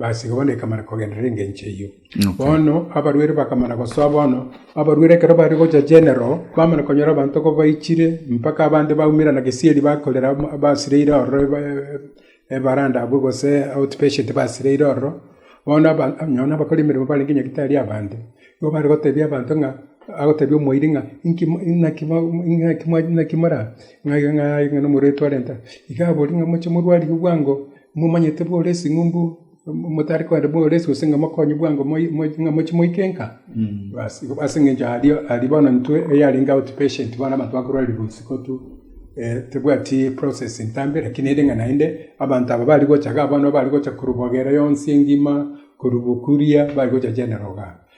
Baasiga bono ekamana kogenderera engencho eyio. Bono abarwere bakamana gosoa bono. Abarwere ekero baare gocha Genero, bamana konyora abanto ko baichire, mpaka abande baumerana gesieri bakorera basireire ororo ebaranda abwo gose out patient basireire ororo. Bono abanto nonya nabakora emeremo barenge nyagetari abande. Nigo bare gotebia abanto ng'a, agotebia omoiri ng'a inki naki naki naki mora ng'a ng'a aye ng'a nomorwaire twarenta. Iga abori ng'a moche morwarigwe bwango. Momanyete bore ase ing'umbu, motari kogenda bore ase gose ng'a mokonye bwango ng'a mochie moike nka. Basi, ase engencho aria aria bono intwe eyarenge out patient bono abanto bakorwarirwa isiko tu, tebwati process ntambe lakini ere ng'a naende abanto aba bari gocha igaa bono bari gocha korwa bogera yonsi engima, korwa bokuria bari gocha general igaa.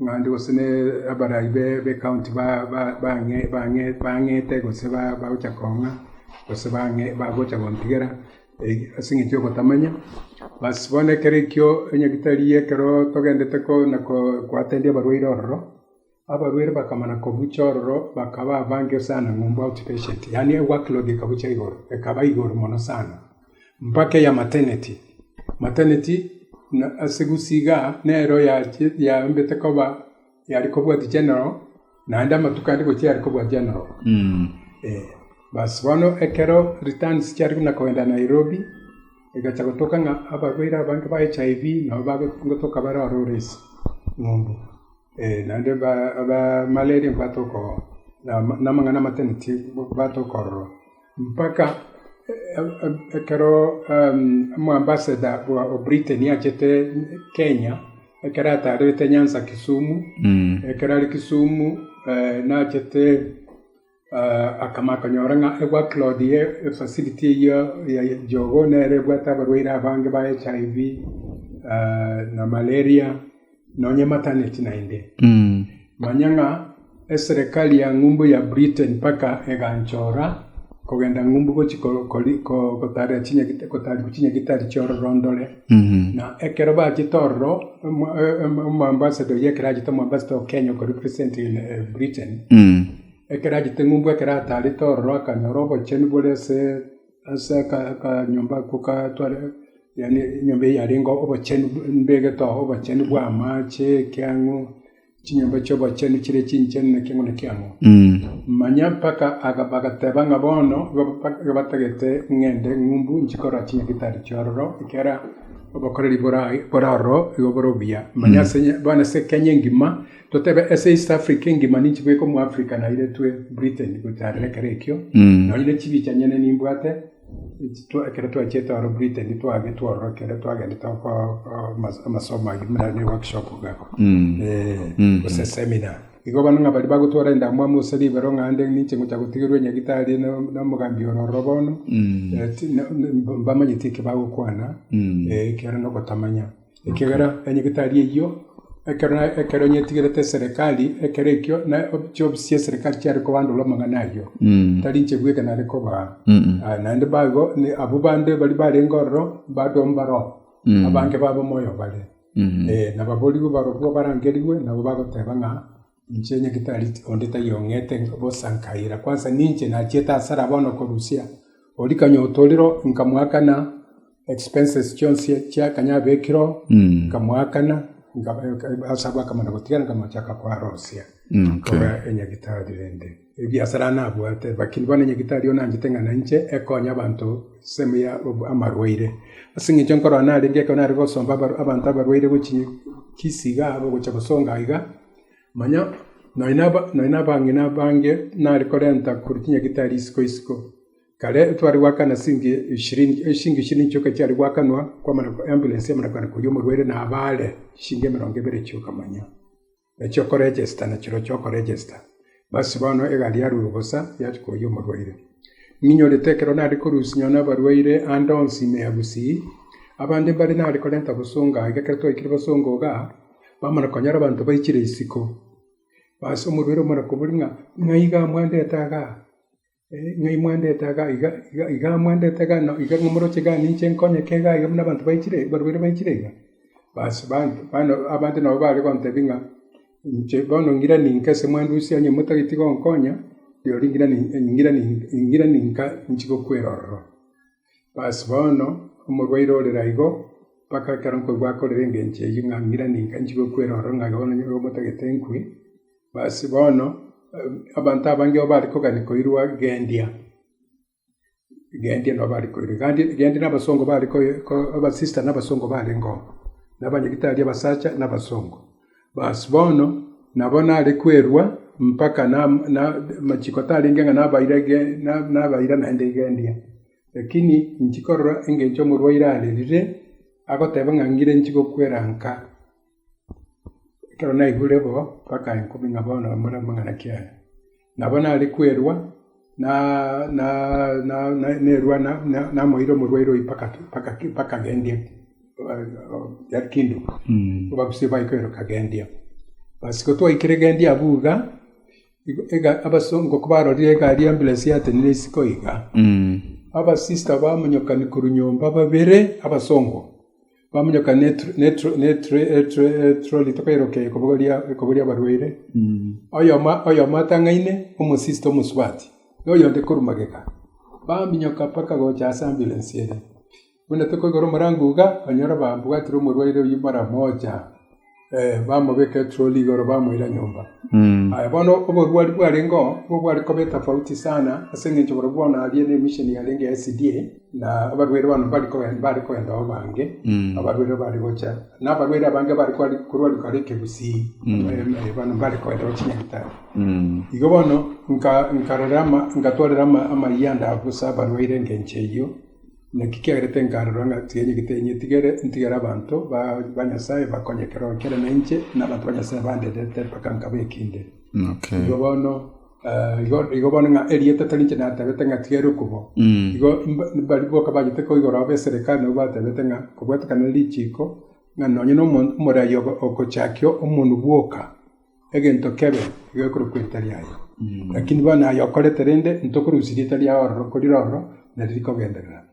Ng'anto gose n'abarai b'ecounty bang'ete gose bagocha kong'a gose bagocha gontigera ase eng'encho y'ogotamanya. Bas bono ekero ekio onye tari ekero togendete na gwatendia abarwaire ororo, abarwaire bakamana kobucha ororo bakaba abange sana ng'umba out patient, yaani workload ekabucha igoro, ekaba igoro mono sana. mpaka eya Mateneti. Mateneti ase gusii iga nero yaambete koba yare kobwati general, naende amatuko ande gochia yare kobua general. Basi bono ekero returns chiare buna kogenda Nairobi, egachia gotoka ng'a abarwaire abange ba HIV nabo bagotoka bare ore ore ase eng'umbu. Ee, naende aba malaria mbatoka oo, na amang'ana a Mateneti mbatoka ororo. mpaka ekero Omoambasada o Britain achete Kenya, ekero ataarerete nyansa Kisumu. Ekero are Kisumu nachete akama akonyora ng'a e-work load ye efacility eyio ya Jogoo nere ebwate abarwaire abange ba HIV na malaria. nonyemataneti naende, manya ng'a eserekari ya ng'umbu ya Britain mpaka eganchora kogenda ng'umbu gochia gotaarera chinyagitari chi'ororondore. Na ekero bachete ororo, omoambasada oyio ekero achete, omoambasada o Kenya oko representing Britain, ekero achete ng'umbu ekero ataarete ororo akanyora obochenu bore ase. ase akanyomba ako gatware, yaani enyomba eyio yarenge obochenu mbegete oo, obochenu bwa amache, ekeang'u, chinyomba chi'obochenu chire chinchenu na ekeang'u na ekeang'u. Manya mpaka bagateba ng'a bono igo batagete ng'ende ng'umbu inche korora chinyagitari chia ororo, ekiagera obokoreri bore ororo igo bore obuya. Manya ase, bono ase Kenya engima. Totebe ase East Africa engima ninchibe goika omo Africa nairetwe Britain gocha aroro ekero ekio, nonya ne chibi chianyene nimbwate ekero twachiete aro Britain twagetwe ororo ekero twagendete amasomo ayio buna ne workshop iga abwo gose seminar. Igo bono ng'a baria bagotwora endamwamu gose ribero ng'a ande ninche ngocha gotigerwa enyagitari na omogambi ore ororo bono, mbamanyeti eki bagokwana ekiagera na ogotamanya. Ekiagera onye getari eyio, ekero na ekero onye etigerete eserekari, ekero ekio na o- chiofisi chia eserekari chiare kobandora amang'ana ayio, tari inche bweka nare kobaa. Ah, naende baigo, ne abwo bande baria barenge ororo, bande oo mbaro, abange babo moyo bare. Eh, nababorigwe barobwo barangerigwe, nabo bagoteba ng'a. Inche nyagitari onde taiyo ong'ete bosa nkaira, kwansa ninche nachiete hasara bono korusia. Oria kanya otorire nkamoakana expenses chionsi chia kanya abekire oo, nkamoakana, nkamochaka koarosia korwa enyagitari rende. ebiasara nabwate, lakini bono nyagetari one anchete ng'a nainche ekonye abanto ensemo ya amarwaire. Ase eng'encho nkorora narenge ekero nare gosomba abanto abarwaire gochia kisi iga aba gochia gosonga iga, manya nonya na nonya na abang'ina abange nare korenta korwa chinyagetari isiko isiko. Kare tware goakana sinki eshiringi eshinki eshirini chioka chiare goakanwa kwamana ambulance yamana koenda koria omorwaire naba are, eshiringi emerongo ebere chioka manya. na chiokorejesta na chiro chiokorejesta. Basi bono egari yarurwe bosa, yachia koyia omorwaire. Ninyorete ekero nare korusinywa nabarwaire ande onsi ime ya Gusii, abande mbare nare korenta bosongo aiga ekero twaikire bosongo iga, bamana konyora abanto baichire isiko. Basi omorwaire omwe arakobori ng'a, Ng'aiga mwandete aga? ng'a imwendete iga iga iga iga amwendete iga na iga momoroche iga ninche nkonyeke iga iga buna abanto baichire barwire baichire iga. Basi bande bande abande nabo bare gontebia ng'a inche bono ng'ira ninke ase mwandu ase onye motageti gonkonya, rirorio ng'ira ni ng'ira ni ng'ira ninka ninchi gokwera ororo. Basi bono, omorwaire ore naigo, mpaka ekero nkoigwa akorera engencho eyio, ng'a ng'ira ninka nchie gokwera ororo ng'a bono nigo omotagete nkwe. Basi bono, abanto abange nigo bare kogania koirwa gendia, gendia nigo bare koirwa. Gandi gendia na abasongo bare ko abasista na abasongo barenge oo, na abanyagitari abasacha na abasongo. Bas, bono nabo nare kwerua mpaka namachiko tarenge ng'a nabaira naende igendia. Lakini inchi korora engencho omorwaire arerire, agoteba ng'a ngire inchi gokwera nka, ekero naigure bo mpaka inko buna bono omorero omong'ana kiaye. Nabo nare kwerua nerua namoeire omorwaire oyio mpaka agendia bagusie baye kwerwa kagendia. Basi gotwaikire egendia abwo iga, abasongo kobarorire egari ya amburensi yatenire isiko iga, abasista bamonyokani korwa nyomba babere abasongo. Bamonyoka n'etroli tokairoka ekobo ri'abarwaire, oyomo atang'aine omosista omosubati, na oyonde korwa magega. Baminyoka mpaka gocha ase amburensi ere, buna tokoigora omorango iga, banyora bambwatire omorwaire oyio mara mocha. bamobeka etroli igoro bamoira nyomba. Aye bono oborwari bwarengeo nigo bware koba etofauti sana ase eng'encho barobwo bono aria nemisheni yarenge ya SDA na abarwaire bono mbari kogenda mbare kogenda ao bange abarwaire bare gocha na abarwaire abange bare kwari korwari kare ekegusii bono mbare kogenda ao chinyagetari. Igo bono nka nkarora ama ngatwarera ama amayia ande abo ase abarwaire engencho eyio. Naki kiagerete nkarora ng'a tigenyegete inye tigere ntigere abanto ba Nyasae bakonye ekerogo kiane na inche, na abanto ba Nyasae bandetete mpaka nkaba ekinde. Igo bono igo bono ng'a erieta tari inche natebete ng'a tigere okubo, igo baria boka bachete koigoro aba eserikari nabwo batebete ng'a kobwatekana nerichiiko ng'a nonye nomonto omorai ogochakio omonwe bwoka. egento kebe iga ekorokwa erita riaye. Lakini bono aye okorete rende, ntokorusia erita riao ororo, korire ororo nari rikogenderera.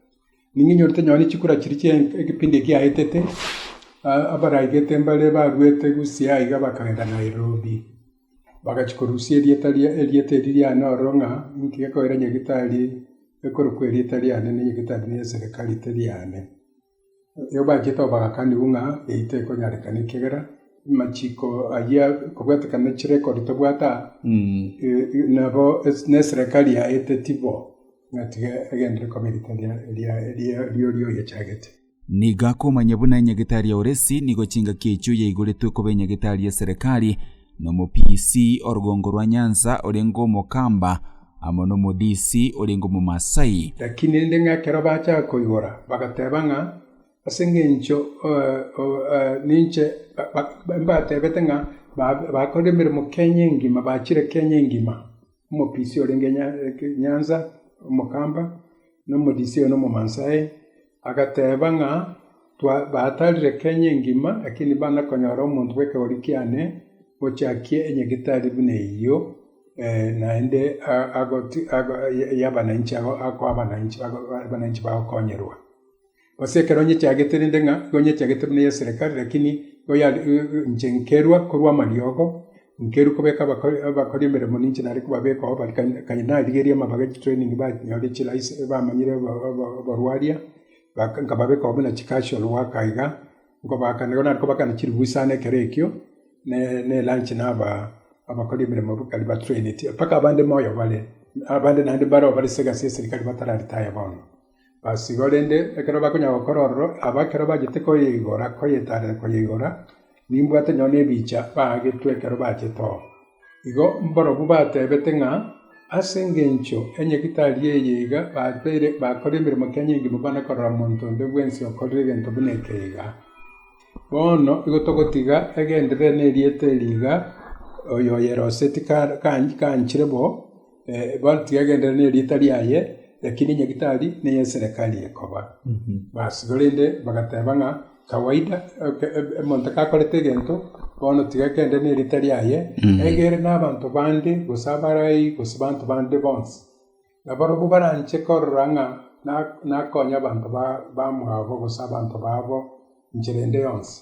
Nigo inyorete nonya ne chikura chiria chia ekepindi eki giaetete, abaraigete mbare baruete Gusii iga iga bakagenda Nairobi, bagachia korusia erieta ria erieta eri riane ororo ng'a nki gekoira nyagetari ekorokwa erieta riane na nyagetari na eserekari teri yane. Ekero bachia too bagakanigwa ng'a eyio tekonyarekana ekiagera amachiko ayio ekobwatekana ne chirecord tobwate aa, nabo ne eserekari yaeteti bo ng'a tiga egenderere koba erita ri'oria oyechagete. Nigo akomanya buna enyagetari ya Oresi nigo chingaki echio yaigoretwe koba enyagetari y'eserekari, na omopiisi o Rugongo rwa Nyanza orenge omokamba, amo n'Omodisi orenge Omomasai. Lakini rende ng'a ekero bachaka koigora, bagateba ng'a, Ase engencho ninche mbatebete ng'a bakorire emeremo Kenya engima, bachire Kenya engima, omopisi orenge Nyanza, omokamba, na Omodisi oyo n'Omomasai. Agateeba ng'a, Batarire Kenya engima, lakini bana konyora omonto bw'ekegori kiane ochakie enyagitari buna eyio, naende y'abananchi ago akoa abananchi abananchi bagokonyorwa. Gose ekero nyechagete rende ng'a, nigo nyechagete buna eya serekari, lakini inche nkerwa korwa amariogo. Nkerwe kobeka abakori emeremo ninche nare kobabekao bare kare narigerie amabaga e chitraining banyore chilicense bamanyire oborwaria nkababekao buna chicasual worker iga nkobaakana igo nare kobakana chirubusaana ekero ekio na elunch naba abakori emeremo bokari batraineti mpaka abande moyo bare abande naende mbareo bare segasi ya eserikari batara retire bono. Basi, korende ekero bakonyara gokora ororo, aba ekero bachete koyeigora, koyetaarera koyeigora, nimbwate onye nebicha baagetwe ekero bachete oo. Igo mborobwo bateebete ng'a ase engencho enyegitari eye iga bateire bakora emeremo kia nyinge mobao na korora monto onde bwensi okorire egento buna eke iga. Bono igo togotiga egenderere nerieta eri iga, oyo oyeroseti kanchire bo. Ebati yagenderera ne rieta riaye, lakini Nyagetari neye eserekari ekoba. Basi korende bagateba ng'a kawaida omonto kakorete egento bono tiga agenderere ne rieta riaye, egere na abanto bande gose abarai gose abanto bande bonsi. Nabarobwo baranche korora ng'a nakonya abanto bamwabo gose abanto babo enchera ende yonsi.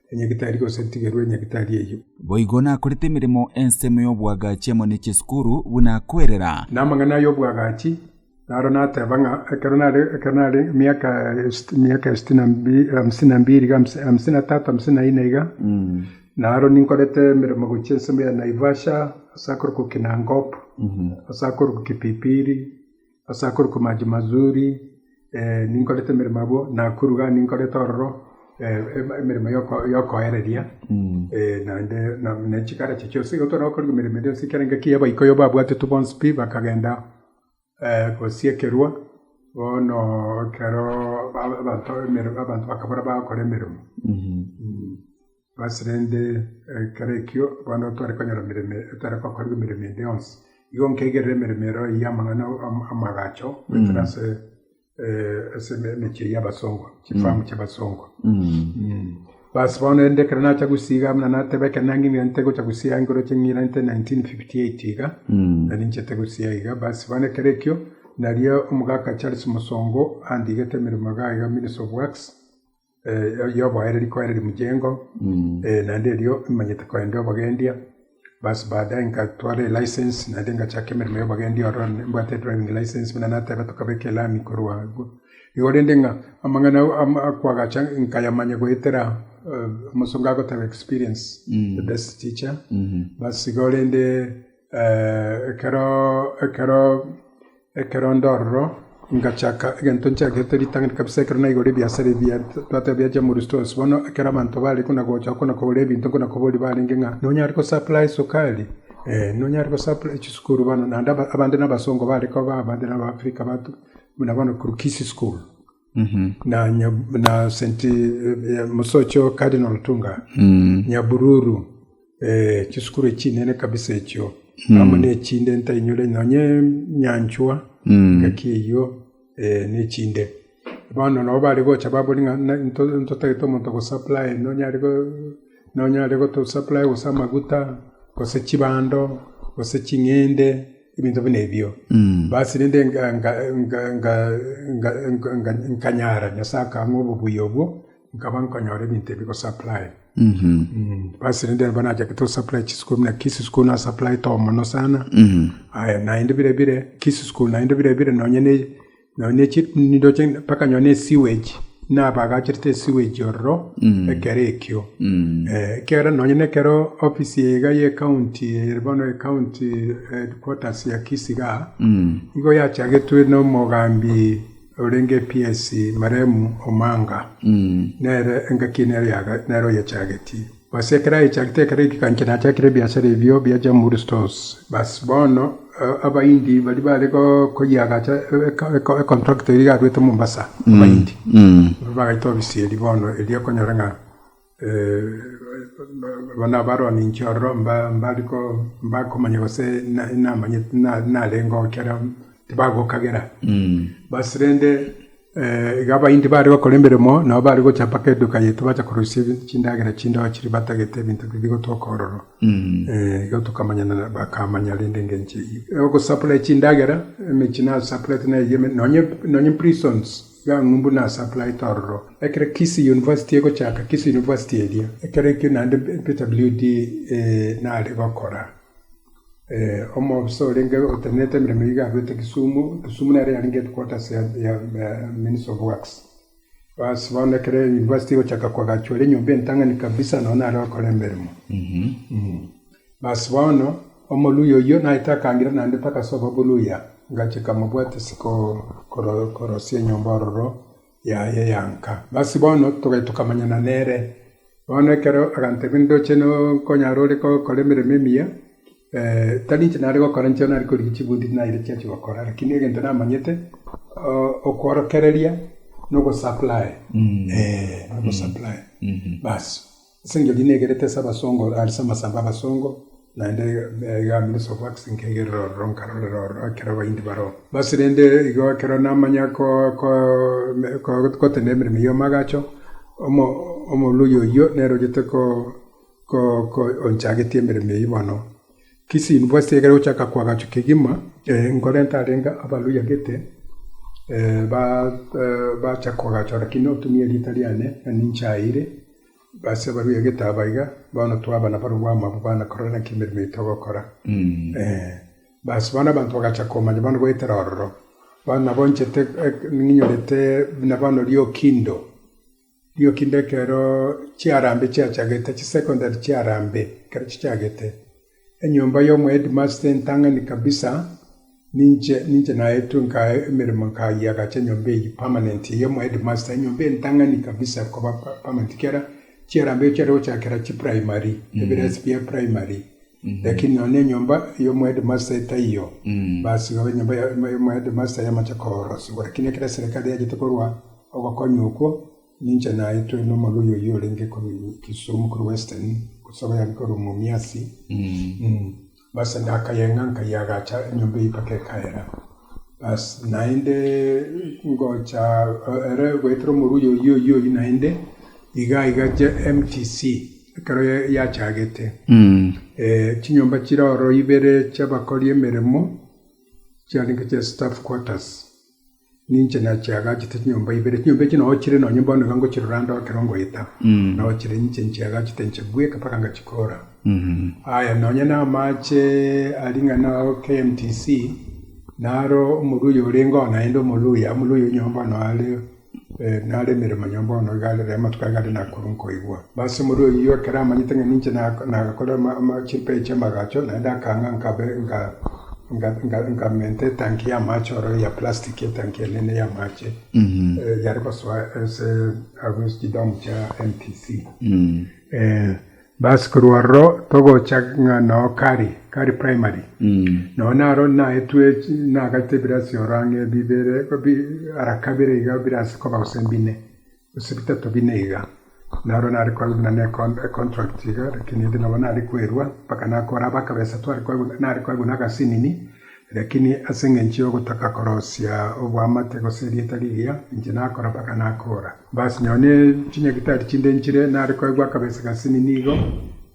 enyagitari gose ntigerwe enyagitari eyio. Boigo nakorete emeremo ensemo y'oboagachi amo ne chisikuru buna kwerera. Namang'ana ay'oboagachi naro nateba ng'a ekero nare ekero nare emiaka emiaka esiti na hamsini na mbiri iga hamsini na tatu hamsini na ine iga naro ninkorete emeremo gochia ensemo ya Naivasha ase akorokwa Kinangop ase akorokwa Kipipiri Ase akoruka amache mazuri ninkorete emeremo abwo, na akoruga ninkorete ororo emeremo y'okoereria, naende na chikara echi chionsi. Igo tore gokora emeremo eria yonsi ekerenge ki abaikoi babwatete bonsi pi bakagenda gosiekerwa, bono ekero abanto bakabora bagokora emeremo. Basi rende, ekero ekio bono ntware konyora emeremo etari kokorigwa emeremo ende yonsi, igo nkegerere emeremo ero eyio amang'ana amagacho goetera ase ase emechie eyio y'abasongo, chifamu chi'abasongo. Basi bono rende ekero nacha gosiiga buna nateba ekero nang'ina nte gocha gosiiga igoro ching'ina nte nineteen fifty eight iga, nari inchete gosiiga iga, basi bono ekero ekio, nario omogaka Charles Musongo andigete emeremo iga iga minister of works. yoboaereri koereria mchengo naende erio nimanyete kogenda obogendia bas baadae nkatwara elicense naende nkachaka emeremo yobogendia ororo nimbwate edriving license buna nateba tokabeka elami korwa agwo igo rende ng'a amang'ana akoagacha nkayamanya goetera omosongo agoteba experience is the best teacher bas igo rende. Ekero, ekero, ekero ndororo, ngachaka egento nchagete ritang'ani kabisa ekero naigure ebiasara ebi twateba bia Chamuri's Stores. Bono ekero abanto bare kona gocha kona kogora ebinto kona koboria barenge ng'a nonyare ko supply sukari? Eeh nonyare ko supply chisukuru bono naende abande na abasongo bare koba abande na Abafrika batu buna bono Kurkisi school. na Saint eh, Mosocho Cardinal Tunga mm. Nyabururu eh, chisukuru echinene kabisa echio mm. amo nechinde ntainyore nonye nyanchwa mm. ngaki eyio eh, nechinde bono nabo bari gocha babori ng'a ntotagete omonto gosupply nonyare nonyare gotosupply gose amaguta gose chibando gose ching'ende ebinto buna ebio, basi rende nkanyara, Nyasae akang'a obobuya obwo, nkaba nkonyora ebinto ebi gosupply. Basi rende nabo nachaka tosupply chisuko buna Kisii school nasupplyete omono sana, aye naende bire bire, Kisii school naende bire bire, nonya ne nonya chindoche mpaka nonya esewage, buna abagacherete esewage ororo ekero ekio. Ekiagera nonya nekero ofisi eye iga y'ecounty ere bono ecounty headquarters ya Kisii iga, nigo yachagetwe nomogambi orenge ps Marehemu Omanga, nere engaki eye nere oyechagetie. Gose ekero aechagete ekero ekegancha nachakire ebiasara ebio bia Jamhuri Stores. Basi bono Abahindi baria bare koyiagacha econtract eria yaruete Mombasa, Abahindi nigo bagaita ofisi eria bono eria okonyora ng'a bono abaroninche ororo mbakomanya gose namanyete narenge oo ekero tibagokagera. Basi rende. Igo abaindi baare gokora emeremo nabo baare gocha mpaka eduka yaito bacha koroisia chindagera chindoa chiria batagete ebinto biria bigotwoka ororo. Igo tokamanyana nabo, bakamanya rende engencho eyio. Ogosupply chindagera, emechie nasupplyete na eyio, nonye nonye prisons, iga ang'u mbwe nasupplyete ororo. Ekero Kisii University egochaka, Kisii University eria, ekero ekio naende Peter Bliudi naare gokora. Omofisa orenge otenenete emeremo iga arwete Kisumu, Kisumu nere yarenge headquarters ya Ministry of Works. Basi bono ekero university egochaka ko agachora enyomba entang'ani kabisa nao nare gokora emeremo. Basi bono omoluya oyio naete akangira naende mpaka ase obobuluya, ngachika mobwate ase korosia enyomba ororo yaye yanka. Basi bono togachia tokamanyana nere. Bono ekero agantebia, Ndoche nokonyare ore gokora emeremo emiya, tari inche nare gokora, inche nare korigia chibundi naira chiachia gokora, rakini egento namanyete, okworokereria na ogosupply, eh, ogosupply, basi. Ase engencho eri negerete ase abasongo, aria ase amasambo 'abasongo, naende iga Minister of Works nkegerera ororo, nkarorera ororo ekero abaindi baroo. Basi rende igo ekero namanya gotenda emeremo ya omoagacho, omorwori oyio nere ochete onchagetie emeremo eyio bono. Kisi inwe bwasire ekero gochaka koagachwa kegima, nkore ntarenge abarwori agete bachaka koagachwa, rakini otumia erieta riane, ninchaeire. Base barue egete aba iga, bono twaba nabarobwo amo abwo bana korora naki emeremo yaito togokora. Basi bono abanto bagacha komanya bono goetera ororo. Bono nabo nchete ninyorete buna bono riokindo, riokindo ekero chiarambe chiachagete, chisecondary chiarambe ekero chichagete. Enyomba y'omohedimasta entang'ani kabisa, ninche, ninche naetwe nkae emeremo nkayiagacha enyomba eyio permanent ey'omohedimasta, enyomba entang'ani kabisa koba permanent ekiagera chiara mbaicho chiare gochakera chiprimary, ebirasi bia primary, lakini nonya enyomba y'omohedimasta etaiyo, basi igo enyomba ya- ya- y'omohedimasta yamache koorosigwa, lakini ekero eserekari yachete korwa ogokonywa okwo, Ninche naetwe nomorwoi oyio orenge Kisumu korwa western gose obo yare korwa Mumias basi nakayeng'a nkayeagacha enyomba eyio mpaka ekaera basi naende ngocha ere goetera omorwoi oyio oyio oyio naende iga iga mtc ekero yachagete chinyomba chire oro ibere chiabakori emeremo chiarenge chia staff quarters. Ninche nachiagachete chinyomba ibere. Chinyomba echio nonya chire nonya bono iga ngochirora ndore ekero ngoeta. Nonya chire ninche nchiagachete nchibweka mpaka ngachikora. Aya nonya na amache aria ng'a na KMTC, naro omorwayi orenge oo naende omoluhya, omoluhya oyo nonya bono are nare emeremo nonya bono iga are amatuko aria nare nakorwa nkoigwa. Ase omorio oyio ekero amanyete ng'a ninche nagakora chimpei chi'amagacho, naende akang'a nkamenta etanki y'amache oro ya plastic, etanki enene y'amache yare gosoa ase agwo ase chidomu chia MTC. Basi korwa ororo togocha ng'a noo Kari, Kari Primary, noo naro naetwe nagachete ebirasi oro ang'e bibere, ara kabere iga ebirasi koba gose mbine. Gose bitato bine iga. Naro nare koegwa buna n'econtract iga, lakini ere nabo nare kwerua mpaka nakooraba akabesa. Tware koegwa, nare koegwa nagasinini, lakini ase engencho y'ogotaka korosia oboamate gose erieta rigiya, inche nakora mpaka nakoora. Basi nyoo ne chinyagitari chinde nchire, nare koegwa akabesa gasinini igo,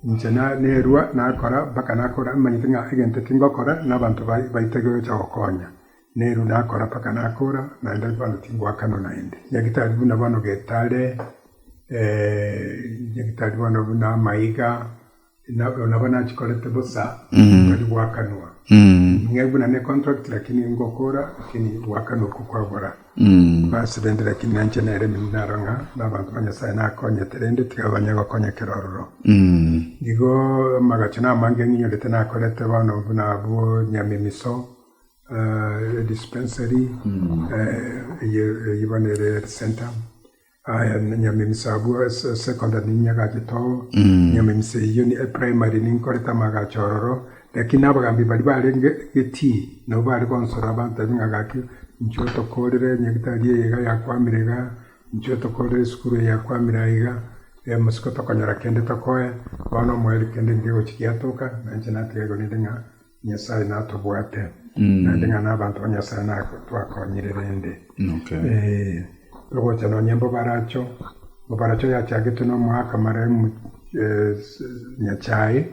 inche nerua nakora mpaka nakoora, nimanyete ng'a egento eki ngokora, na abanto baitaire gocha gokonya. Nero nakora mpaka nakora, naende bono tingoakanwa naende. Nyagetari buna bono getare, nyagetari bono buna amaiga, nabo nachikorete bosa, tari goakanwa. Ng'ai buna ne contract lakini ngokora, lakini goakanwa okwo kwabora. Bas rende lakini nainche nere naro ng'a nabanto ba Nyasae nakonyete rende tiga banye gokonyekera ororo. Igo amagacho namange ng'inyorete nakorete bono buna abwo Nyamemiso. Dispensary eye eye bono ere health centre aya nyama emisa abwo ase secondary ninyagache too nyama emisa eyio primary ninkorete amagacho ororo lakini abagambi baria barenge egetii nabo bare konsora bantebi ng'a gaki inche otokorire nyagetari eye iga yakwamire iga inche otokorire esukuru eye yakwamire aye iga bono omweri kende nkegochi giatoka nainche natiga igo rende ng'a. Nyasae natobwate, naende ng'a nabaanto ba Nyasae nabo twakonyire rende. Togocha nonya Mbobaracho, Mbobaracho yachagetwe nomoaka marehemu Nyachae,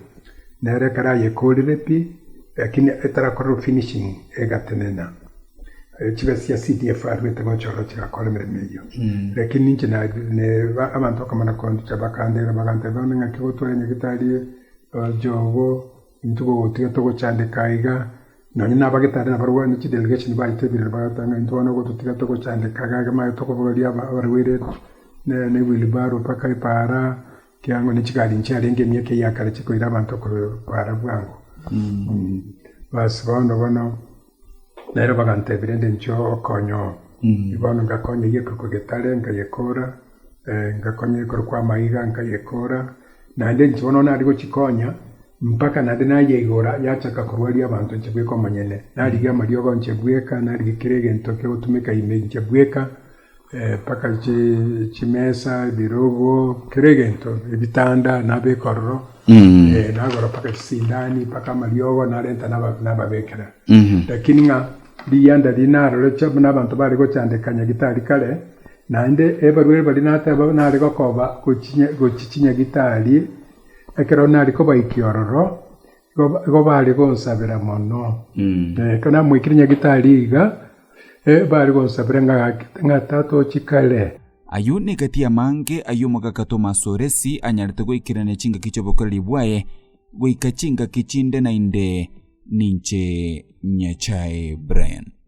nere ekero ayekorire pi, lakini etarakorerwa finishing egatenena. Chibe chia CDF arwete gocha ororo chigakora emeremo eyio. Lakini inche abanto bakamana koonchocha bakandeeba, baganteba bono ng'aki gotware Nyagetari, Jogo. Intwe gogotiga togochandeka aiga, nonya nabagete aria nabarwao ne chidelegesheni baitebire, bagoteba ng'a intwe bono gototiga togochandeka aiga, egemayo tokobogoria abarwaire ne wheelbarrow mpaka epaara, ekiagera ne chigari inche arenge emiaka eyio ya kare chikoira abanto koira bwango. Bas, bono bono. Nere bagantebia, Rende inche okonye oo, bono ngakonye egekorokwa getare, nkayekora, ngakonye egekorokwa amaiga, nkayekora, naende inche bono nare gochia konya mpaka naende nayeigora yachaka korwaria abanto inche bweka omonyene. Narigia amariogo inche bweka, narigia kera egento kiagotumeka ime inche bweka. mpaka chimesa, ebirogo, kera egento, ebitanda na abekorero, eh, nagora mpaka chisindani, mpaka amariogo narenta naba- nababekera. Lakini ng'a rigiya ndaria narore cha buna abanto bare gochandeka nyagitari kare, naende ebarwere baria nateba nare gokoba gochi- gochi chinyagitari ekero nare kobaikia ororo, Igo baare gonsabera mono. Na ekero namoikire Nyagetari iga, baare gonsabera ng'a Tata o chikare. Ayio negati amange ay'omogaka Tomasi o Lesi anyarete goikerania chingaki chi'obokoreri bwaye, goika chingaki chinde na inde. Ninche Nyasae. Brian.